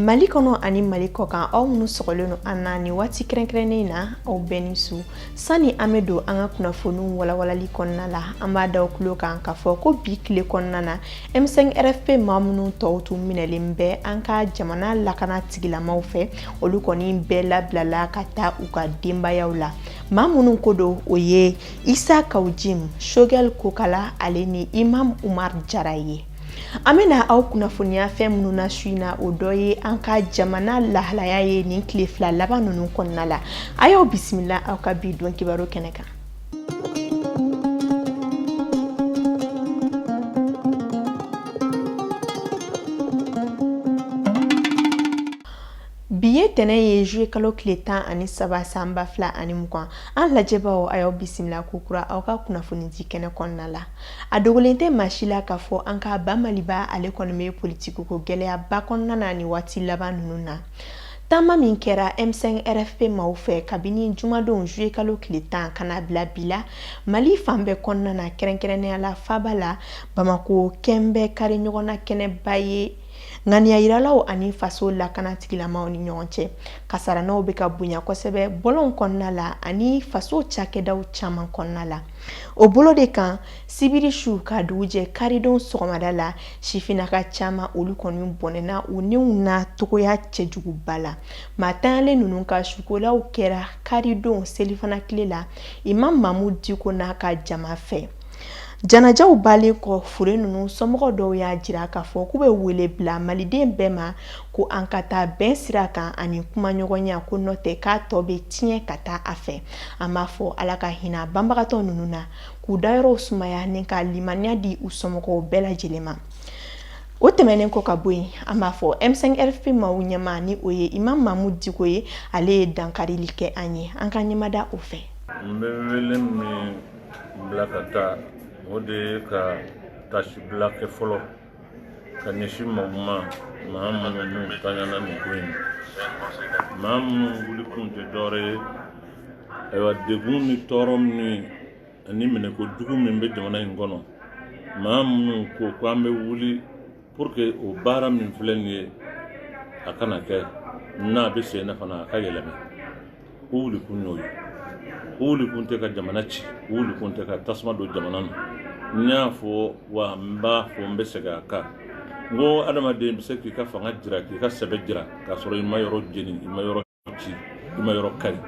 mali kɔnɔ ani mali kɔkan aw minnu sɔgɔlen don an na nin waati kɛrɛnkɛrɛnnen in na aw bɛɛ ni su sanni an bɛ don an ka kunnafoniw walawalali kɔnɔna la an b'a da aw tulo kan k'a fɔ ko bi tile kɔnɔna na M5RFP maa minnu tɔw tun minɛlen bɛ an ka jamana lakana tigilamaw fɛ olu kɔni bɛɛ labilala ka taa u ka denbayaw la maa minnu ko don o ye isa kawu jim shogɛli kokala ale ni imam umaru jara ye an bɛna aw kunnafoniya fɛn minnu na su in na o dɔ ye an ka jamana lahalaya ye nin tile fila laban ninnu kɔnɔna la a y'aw bisimila aw ka bi don kibaru kɛnɛ kan bi ye tɛnɛ ye juillet kalo tile tan ani saba san ba fila ani mugan an lajɛbaaw a y'aw bisimila kokura aw ka kunnafonidi kɛnɛ kɔnɔna la a dogolen tɛ maa si la k'a fɔ an ka ba maliba ale kɔni bɛ politikiko gɛlɛyaba kɔnɔna na nin waati laban ninnu na Taama min kɛra M5 RFP maaw fɛ kabini jumadon juillet kalo tile tan ka na bila bi la, Mali fan bɛɛ kɔnɔna na kɛrɛnkɛrɛnnenya la faaba la, Bamako kɛlen bɛ kariɲɔgɔnna kɛnɛba ye ŋaniyajiralaw ani faso lakana tigilamaw ni ɲɔgɔn cɛ. Kasarannaw bɛ ka bonya kosɛbɛ bɔlɔnw kɔnɔna la ani faso cakɛdaw caman kɔnɔna la. O bolo de kan, Sibiri su ka dugu jɛ karidon sɔgɔmada la sifinnaka caman olu kɔni bɔnɛna u ni na cogoya cɛjuguba la maa tanyalen ninnu ka sukolaw kɛra karidon selifana tile la imam mamudu diko n'a ka jama fɛ janajaw bannen kɔ fure ninnu somɔgɔ dɔw y'a jira k'a fɔ k'u bɛ wele bila maliden bɛɛ ma ko an ka taa bɛn sira kan ani kumaɲɔgɔnya ko n'o tɛ k'a tɔ bɛ tiɲɛ ka taa a fɛ an b'a fɔ ala ka hinɛ banbagatɔ ninnu na k'u dayɔrɔw sumaya ni ka limaniya di u somɔgɔw bɛɛ lajɛlen ma o tɛmɛnen kɔ ka bɔ yen an b'a fɔ M5 RFP maaw ɲɛmaa ni o ye imam mamudu diko ye ale ye dankarili kɛ an ye an ka ɲɛmada o fɛ n bɛ wele min bila ka taa o de ye ka tasibila kɛ fɔlɔ ka ɲɛsin maaw ma maa minnu niw tanyana nin ko in maa minnu wulikun tɛ dɔwɛrɛ ye ayiwa degun ni tɔɔrɔ minnu ye ani minɛko jugu min bɛ jamana in kɔnɔ maa minnu ko ko an bɛ wuli pour que o baara min filɛ nin ye a kana kɛ n'a bɛ sen na fana a ka yɛlɛma o wulikun y'o ye o wulikun tɛ ka jamana ci o wulikun tɛ ka tasuma don jamana na n y'a fɔ wa n b'a fɔ n bɛ segin a kan n ko adamaden bɛ se k'i ka fanga jira k'i ka sɛbɛ jira k'a sɔrɔ i ma yɔrɔ jeni i ma yɔrɔ ci i ma yɔrɔ kari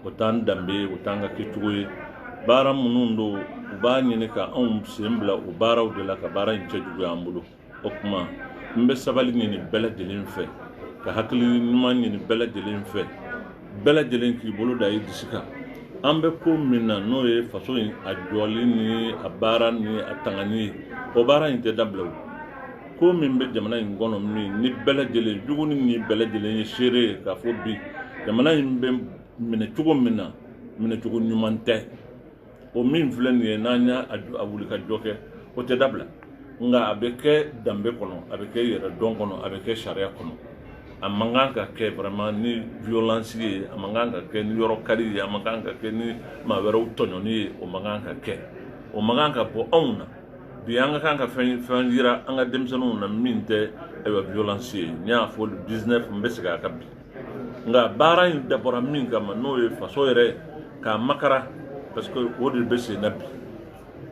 o t'an danbe ye o t'an ka kɛcogo ye baara minnu don u b'a ɲini ka anw sen bila o baaraw de la ka baara in cɛjuguya an bolo o tuma n bɛ sabali ɲini bɛɛ lajɛlen fɛ ka hakili ɲuman ɲini bɛɛ lajɛlen fɛ bɛɛ lajɛlen k'i bolo da i disi kan an bɛ ko min na n'o ye faso in a jɔli ni a baara ni a tangani ye o baara in tɛ dabila o ko min bɛ jamana in kɔnɔ min ni bɛɛ lajɛlen jugu ni ɲin bɛɛ lajɛlen ye seere ye k'a fɔ bi jamana in bɛ minɛ cogo min na minɛcogo ɲuman tɛ o min filɛ nin ye n'an y'a wuli ka jɔ kɛ o tɛ dabila nka a bɛ kɛ danbe kɔnɔ a bɛ kɛ yɛrɛ dɔn kɔnɔ a bɛ kɛ sariya kɔnɔ a man kan ka kɛ vraiment ni violence ye a man kan ka kɛ ni yɔrɔ kari ye a man kan ka kɛ ni maa wɛrɛw tɔɲɔni ye o man kan ka kɛ o man kan ka bɔ anw na bi an ka kan ka fɛn yira an ka denmisɛnninw na min tɛ ayiwa violence ye n y'a fɔ le 19 n bɛ segin a kan bi nka baara in dabɔra min kama n'o ye faso yɛrɛ k'a makara parce que o de bɛ sen na bi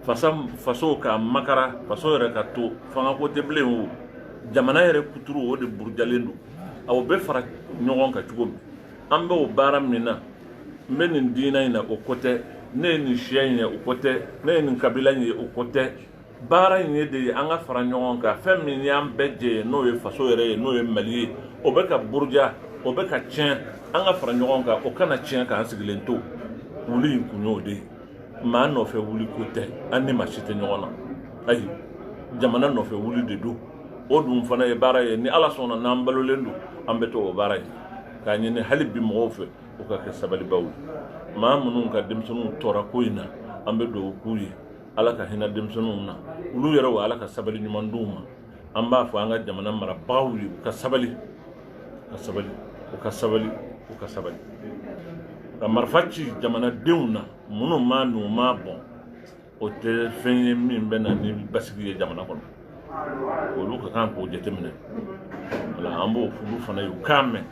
faso k'a makara faso yɛrɛ ka to fangako tɛ bilen o jamana yɛrɛ kuturu o de burujalen don aw bɛ fara ɲɔgɔn kan cogo min an bɛ o baara min na n bɛ nin diinɛ in na o ko tɛ ne ye nin siya in ye o ko tɛ ne ye nin kabila in ye o ko tɛ baara in ye de ye an ka fara ɲɔgɔn kan fɛn min y'an bɛɛ jɛ ye n'o ye faso yɛrɛ ye n'o ye mali ye o bɛ ka buruja o bɛ ka tiɲɛ an ka fara ɲɔgɔn kan o kana tiɲɛ k'an sigilen to wuli in kun y'o de ye maa nɔfɛ wuli ko tɛ an ni maa si tɛ ɲɔgɔn na ayi jamana nɔfɛ wuli de don o dun fana ye baara ye ni ala sɔnna n'an balolen don an bɛ to o baara ye k'a ɲini hali bi mɔgɔw fɛ u ka kɛ sabalibaw ye maa minnu ka denmisɛnninw tora ko in na an bɛ dugawu k'u ye ala ka hinɛ denmisɛnninw na olu yɛrɛ wa ala ka sabali ɲuman d'u ma an b'a fɔ an ka jamana marabagaw ye u ka sabali ka sabali u ka sabali u ka sabali ka marifa ci jamanadenw na minnu ma n'u m'a bon o tɛ fɛn ye min bɛ na ni basigi ye jamana kɔnɔ olu ka kan k'o jateminɛ wala an b'o olu fana ye u k'a mɛn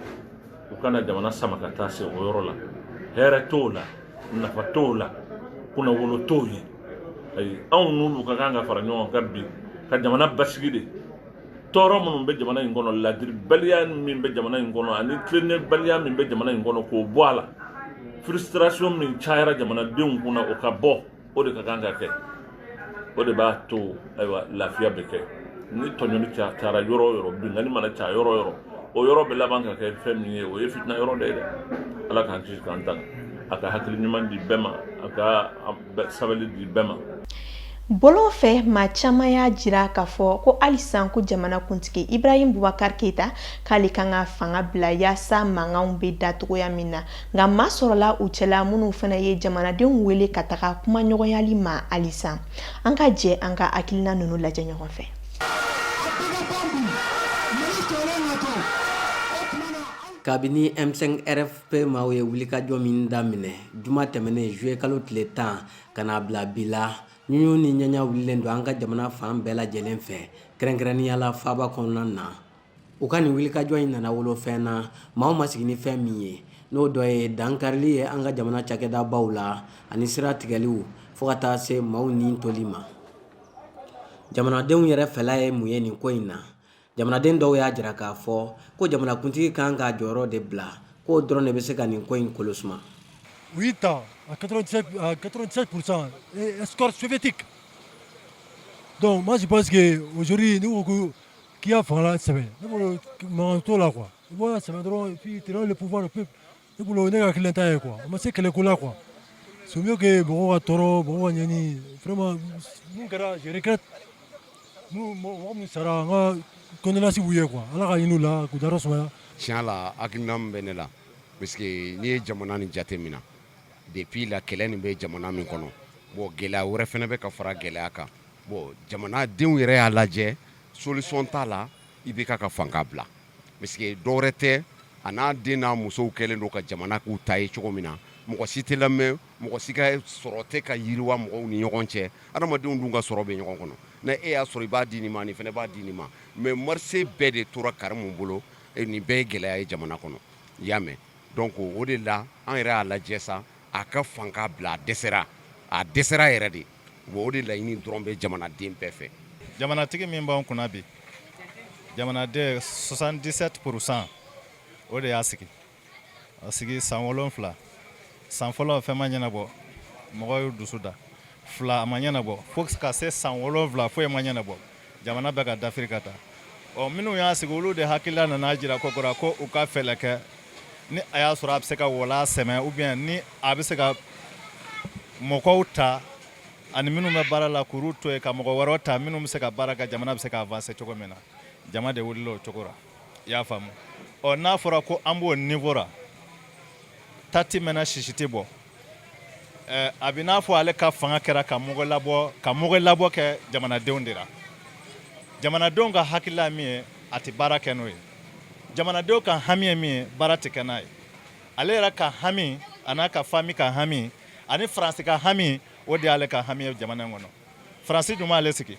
u kana jamana sama ka taa se o yɔrɔ la hɛrɛ t'o la nafa t'o la kunnawolo t'o ye ayi anw n'olu ka kan ka fara ɲɔgɔn kan bi ka jamana basigi de tɔɔrɔ minnu bɛ jamana in kɔnɔ ladiribaliya min bɛ jamana in kɔnɔ ani tilennenbaliya min bɛ jamana in kɔnɔ k'o bɔ a la frustration min cayara jamanadenw kunna o ka bɔ o de ka kan ka kɛ o de b'a to ayiwa lafiya bɛ kɛ ni tɔɲɔni ca cayara yɔrɔ o yɔrɔ binkanni mana caya yɔrɔ o yɔrɔ o yɔrɔ bɛ laban ka kɛ fɛn min ye o ye fitina yɔrɔ de ye dɛ ala k'an kisi k'an tanga a ka hakili ɲuman di bɛɛ ma a ka sabali di bɛɛ ma bɔlɔn fɛ maa caman y'a jira k'a fɔ ko halisa ko jamana kuntigi ibrahim bubakar keyita k'ale kan ka fanga bila yaasa mankanw bɛ da cogoya min na nka maa sɔrɔla u cɛla minnu fana ye jamanadenw wele ka taga kumaɲɔgɔnyali ma halisa an ka jɛ an ka hakilina ninnu lajɛ ɲɔgɔn fɛ kabini m5rfp maaw ye wulikajɔ min daminɛ juma tɛmɛnen zuye kalo tile tan ka n'a bila bi la ɲuɲu ni ɲaɲa wulilen don an ka jamana fan bɛɛ lajɛlen fɛ kɛrɛnkɛrɛnnenya la faaba kɔnɔna na u ka nin wulikajɔ in nana wolo fɛn na maaw ma sigi ni fɛn min ye n'o dɔ ye dankarili ye an ka jamana cakɛdabaw la ani sira tigɛliw fo ka taa se maaw ni toli ma jamanadenw yɛrɛ fɛla ye mun ye nin ko in na jamanaden dɔw y'a jira k'a fɔ ko jamanakuntigi kan k'a jɔyɔrɔ de bila k'o dɔrɔn de bɛ se ka nin ko in kolo suma Oui, à 87%, un score soviétique. Donc, moi, je pense qu'aujourd'hui, nous, K'i y'a fanga sɛbɛn ne bolo mankan t'o la quoi i bɔra sɛbɛn dɔrɔn puis le pouvoir du peuple i bolo ne ka kelen ta ye quoi a ma se kɛlɛ ko la quoi sunjatake mɔgɔ ka tɔɔrɔ mɔgɔ ɲani vraiment je regrette mɔgɔ sara an ka condoléances b'u ye quoi ala ka hinɛ u la k'u dayɔrɔ sumaya tiɲɛ la hakilina min bɛ ne la parce que n'i ye jamana nin jateminɛ Depuis là kɛlɛ nin bɛ jamana min kɔnɔ bon gɛlɛya wɛrɛ fɛnɛ bɛ ka fara gɛlɛya kan bon jamana denw yɛrɛ y'a lajɛ solution t'a la IBK ka fanga bila parce que dɔ wɛrɛ tɛ a n'a den n'a musow kɛlen don ka jamana k'u ta ye cogo min na mɔgɔ si tɛ lamɛn mɔgɔ si ka sɔrɔ tɛ ka yiriwa mɔgɔw ni ɲɔgɔn cɛ adamadenw dun ka sɔrɔ bɛ ɲɔgɔn kɔnɔ ni e y'a sɔrɔ i b'a di nin ma nin fɛnɛ b'a di nin ma mais marché bɛɛ de tora karimu bolo nin bɛɛ ye gɛlɛya ye jamana kɔnɔ i y'a mɛn Donc o de la an yɛrɛ y'a lajɛ sa a ka fanga bila a dɛsɛra a dɛsɛra yɛrɛ de bon o de laɲini dɔrɔn bɛ jamanaden bɛɛ fɛ jamanatigi min b'an kunna bi jamanaden soixante-dix-sept pour cent o de y'a sigi a sigi san wolonwula san fɔlɔ fɛn ma ɲɛnabɔ mɔgɔ y'u dusu da fila a ma ɲɛnabɔ fo ka se san wolonwula foyi ma ɲɛnabɔ jamana bɛ ka dafiri ka taa ɔ minnu y'a sigi olu de hakilila nana jira kokura ko u ka fɛlɛ kɛ ni a y'a sɔrɔ a bɛ se ka wala sɛmɛ ou bien ni a bɛ se ka mɔgɔw ta ani minnu bɛ baara la k'olu to yen ka mɔgɔ wɛrɛ ta minnu bɛ se ka baara kɛ jamana bɛ se ka avancer cogo min na jama de wulila o cogo la i y'a faamu ɔ n'a fɔra ko an b'o niveau ra ta tɛ mɛnɛ sisi tɛ bɔ Eh, a bɛ n'a fɔ ale ka fanga kɛra ka mɔgɔ labɔ ka mɔgɔ labɔ kɛ jamanadenw de la jamanadenw ka hakilila min ye a tɛ baara kɛ n'o ye jamanadenw ka hami ye min ye baara tɛ kɛ n'a ye ale yɛrɛ ka hami a n'a ka fami ka hami ani faransi ka hami o de y'ale ka hami ye jamana in kɔnɔ faransi dun m'ale sigi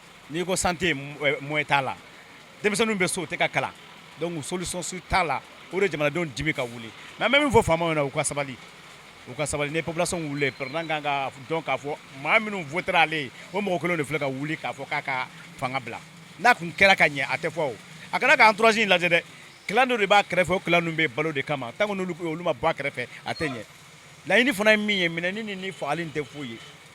n'i ko santé moyen t'a la denmisɛnninw bɛ so u tɛ ka kalan donc solution si t'a la o de jamanadenw dimi ka wuli mais an bɛ min fɔ faamaw ɲɛna u ka sabali u ka sabali ni population wulilen président kan ka dɔn k'a fɔ maa minnu votera ale ye o mɔgɔ kelen de filɛ ka wuli k'a fɔ k'a ka fanga bila n'a tun kɛra ka ɲɛ a tɛ fɔ a kan'a ka entourage in lajɛ dɛ clan dɔ de b'a kɛrɛfɛ o clan ninnu bɛ balo de kama tant que olu ma bɔ a kɛrɛfɛ a tɛ ɲɛ laɲini fana ye min ye minɛni ni fagali tɛ foyi ye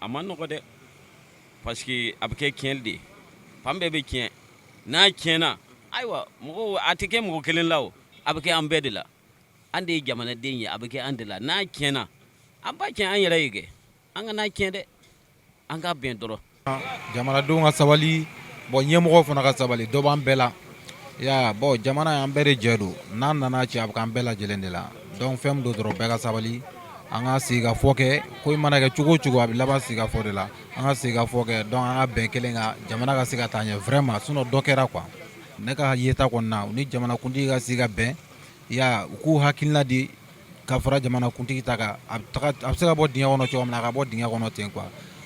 a ma nɔgɔ dɛ parce que a bɛ kɛ tiɲɛli de ye fan bɛɛ bɛ tiɲɛ n'a tiɲɛna ayiwa mɔgɔw a tɛ kɛ mɔgɔ kelen la o a bɛ kɛ an bɛɛ de la an de ye jamanaden ye a bɛ kɛ an de la n'a tiɲɛna an b'a tiɲɛ an yɛrɛ ye kɛ an kan'a tiɲɛ dɛ an ka bɛn dɔrɔn jamanadenw ka sabali bon ɲɛmɔgɔw fana ka sabali dɔ b'an bɛɛ la ya bon jamana y'an bɛɛ de jɛ don n'a nana cɛn a bɛ k'an bɛɛ lajɛlen de la donc fɛn min don dɔrɔn bɛɛ ka sabali an ka sigikafɔ kɛ ko mana kɛ cogo o cogo a bɛ laban sigikafɔ de la an ka sigikafɔ kɛ donc an ka bɛn kelen kan jamana ka se ka taa ɲɛ vraiment sinon dɔ kɛra quoi ne ka yeta kɔni na u ni jamanakuntigi ka sigi ka bɛn ya u k'u hakilina di ka fara jamanakuntigi ta kan a bɛ se ka bɔ dingɛ kɔnɔ cogo min na a ka bɔ dingɛ kɔnɔ ten quoi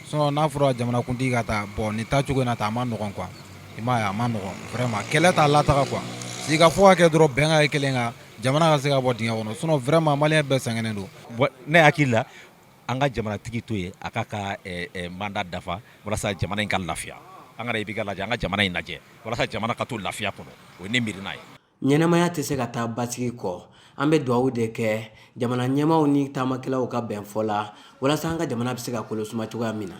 sinon n'a fɔra jamanakuntigi ka taa bon nin taacogo in na taa a ma nɔgɔ quoi i m'a ye a ma nɔgɔ vraiment kɛlɛ t'a lataga quoi sigikafɔ ka kɛ dɔrɔn bɛn ka kɛ kelen kan jamana ka se ka bɔ dingɛ kɔnɔ sinon vraiment maliyɛn bɛɛ sɛgɛnnen don ne hakili la an ka jamanatigi to yen a k'a ka mandat dafa walasa jamana in ka lafiya an kana IBK lajɛ an ka jamana in lajɛ walasa jamana ka to lafiya kɔnɔ o ye ne miirina ye ɲɛnamaya tɛ se ka taa basigi kɔ an bɛ dugawu de kɛ jamana ɲɛmaaw ni taamakɛlaw ka bɛn fɔ la walasa an ka jamana bɛ se ka kolosuma cogoya min na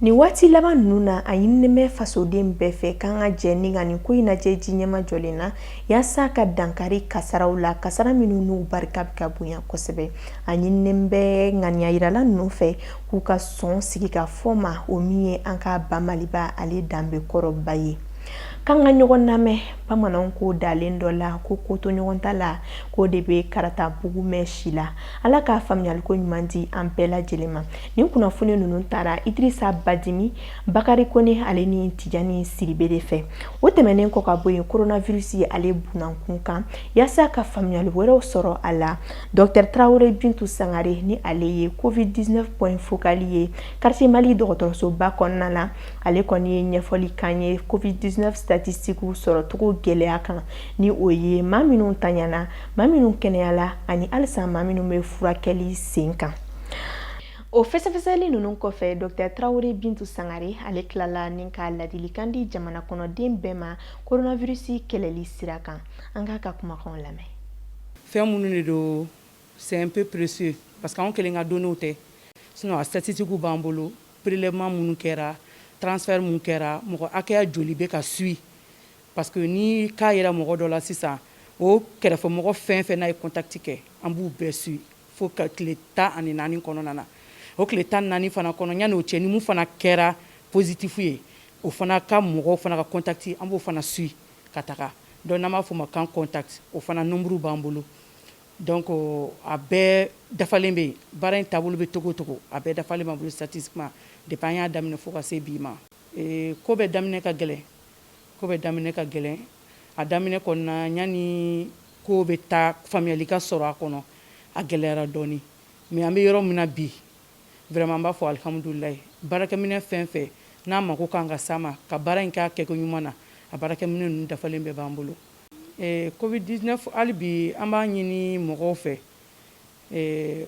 Nin waati laban ninnu na a ɲininen bɛ fasoden bɛɛ fɛ k'an ka jɛ ni ka nin ko in lajɛ ji ɲɛmajɔlen na yaasa ka dankari kasaraw la kasara minnu n'u barika bɛ ka bonya kosɛbɛ a ɲininen bɛ ŋaniyajirala ninnu fɛ k'u ka sɔn sigikafɔ ma o min ye an ka ba Maliba ale danbe kɔrɔba ye k'an ka ɲɔgɔn lamɛn bamananw ko ntalen dɔ la ko kotoɲɔgɔntala k'o de bɛ karatabugu mɛn si la ala ka faamuyaliko ɲuman di an bɛɛ lajɛlen ma nin kunnafoni ninnu taara idirisa badimi bakari kone ale ni tijani siribe de fɛ o tɛmɛnen kɔ ka bɔ yen coronavirus ye ale bunankun kan yaasa ka faamuyali wɛrɛw sɔrɔ a la docteur traoré bintu sangare ni ale ye covid 19 point focal ye quartier mali dɔgɔtɔrɔsoba kɔnɔna na ale kɔni ye ɲɛfɔli k'an ye covid 19 statistiques sɔrɔcogo gɛlɛya kan ni o ye maa minnu tanyana maa minnu kɛnɛyala ani halisa maa minnu bɛ furakɛli sen kan O fɛsɛfɛsɛli ninnu kɔfɛ docteur traoré bintu sangare ale tilala ni ka ladilikan di jamana kɔnɔden bɛɛ ma coronavirus kɛlɛli sira kan an k'a ka kumakanw lamɛn fɛn minnu de don c'est un peu précieux parce que anw kelen ka données tɛ sinon a statistiques b'an bolo prélèvement minnu kɛra transfert minnu kɛra mɔgɔ hakɛya joli bɛ ka suivi parce que ni cas yera mɔgɔ dɔ la sisan o kɛrɛfɛmɔgɔ fɛn fɛn n'a ye contact kɛ an b'u bɛɛ suivi fo ka tile tan ani naani kɔnɔna na o tile tan naani fana kɔnɔ yanni o cɛ ni min fana kɛra positif ye o fana ka mɔgɔw fana ka contact an b'o fana suivi ka taga donc n'an b'a fɔ o ma cas contact o fana nombre b'an bolo donc a bɛɛ dafalen bɛ yen baara in taabolo bɛ cogo cogo a bɛɛ dafalen b'an bolo c'est-à-dire depuis an y'a daminɛ fo ka se bi ma ko bɛɛ daminɛ ka gɛlɛn Ko bɛɛ daminɛ ka gɛlɛn a daminɛ kɔnɔna yanni ko bɛ taa faamuyali ka sɔrɔ a kɔnɔ a gɛlɛyara dɔɔnin mais an bɛ yɔrɔ min na bi vraiment an b'a fɔ alihamudulilayi baarakɛminɛ fɛn fɛn n'a mako k'an ka s'a ma ka baara in k'a kɛko ɲuman na a baarakɛminɛ ninnu dafalen bɛɛ b'an bolo covid 19 hali bi an b'a ɲini mɔgɔw fɛ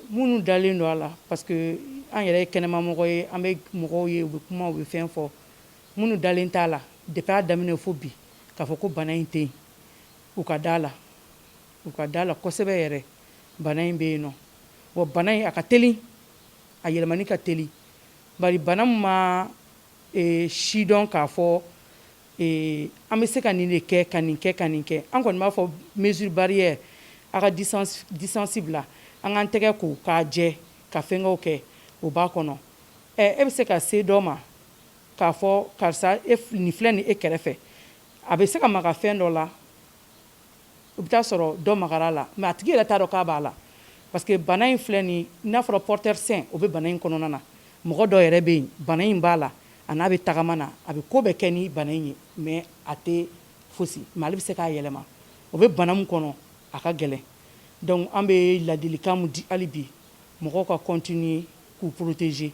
minnu dalen don a la parce que an yɛrɛ ye kɛnɛmamɔgɔ ye an bɛ mɔgɔw ye u bɛ kuma u bɛ fɛn fɔ Minnu dalen t'a la depuis a daminɛ fo bi k'a fɔ ko bana in tɛ yen, u ka d'a la, u ka d'a la kosɛbɛ yɛrɛ. Bana in bɛ yen nɔ, wa bana in a ka teli, a yɛlɛmani ka teli. Bari bana min ma sidɔn k'a fɔ an bɛ se ka nin de kɛ, ka nin kɛ, ka nin kɛ, an kɔni b'a fɔ mesure barrière a ka distance distance bila, an k'an tɛgɛ ko k'a jɛ, ka fɛnkɛw kɛ, o b'a kɔnɔ. Ɛ e bɛ se ka se dɔ ma K'a fɔ karisa nin filɛ nin e kɛrɛfɛ a bɛ se ka maga fɛn dɔ la u bɛ taa sɔrɔ dɔ magara a la mais a tigi yɛrɛ t'a dɔn k'a b'a la parce que bana in filɛ nin n'a fɔra porteur sain o bɛ bana in kɔnɔna na mɔgɔ dɔ yɛrɛ bɛ yen bana in b'a la a n'a bɛ tagama na a bɛ ko bɛɛ kɛ ni bana in ye mais a tɛ fosi mais ale bɛ se k'a yɛlɛma o bɛ bana min kɔnɔ a ka gɛlɛn donc an bɛ ladilikan min di hali bi mɔgɔw ka continuer k'u protéger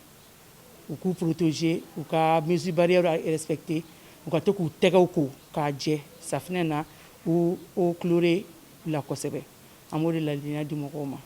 u k'u protéger u ka mesures barrières respecter u ka to k'u tɛgɛ ko k'a jɛ safinɛ na ou eau chlorée la kosɛbɛ an b'o de ladilikan di mɔgɔw ma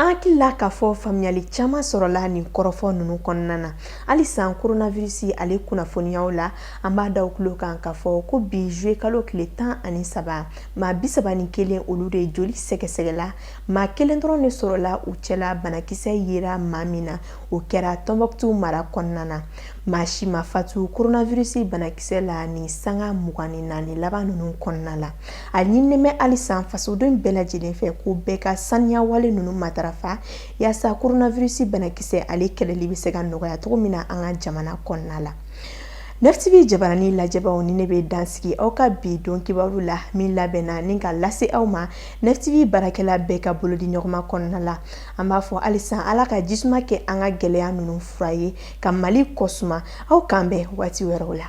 an hakilila k'a fɔ faamuyali caman sɔrɔla nin kɔrɔfɔ ninnu kɔnɔna na halisa koronavirusi ale kunnafoniyaw la an b'a d'aw tulo kan k'a fɔ ko bi zuwɛn kalo tile tan ani saba maa bisaba ni kelen olu de joli sɛgɛsɛgɛla maa kelen dɔrɔn de sɔrɔla u cɛla banakisɛ yera maa min na o kɛra tɔnbukutu mara kɔnɔna na maa si ma fatu koronavirusi banakisɛ la ni sanga mugan ni naani laban ninnu kɔnɔna la a ɲinini bɛ halisa fasoden bɛɛ lajɛlen fɛ ko bɛɛ ka saniya wale ninnu matarafa yaasa koronavirusi banakisɛ ale kɛlɛli bɛ se ka nɔgɔya cogo min na an ka jamana kɔnɔna la nefitibi jabarani lajɛbaaw ni ne bɛ dan sigi aw ka bi don kibaru la min labɛnna ni k'a lase aw ma nefitibi baarakɛla bɛɛ ka bolodiɲɔgɔnma kɔnɔna la an b'a fɔ halisa ala ka jisuma kɛ an ka gɛlɛya ninnu fura ye ka mali kɔsuma aw k'an bɛn waati wɛrɛw la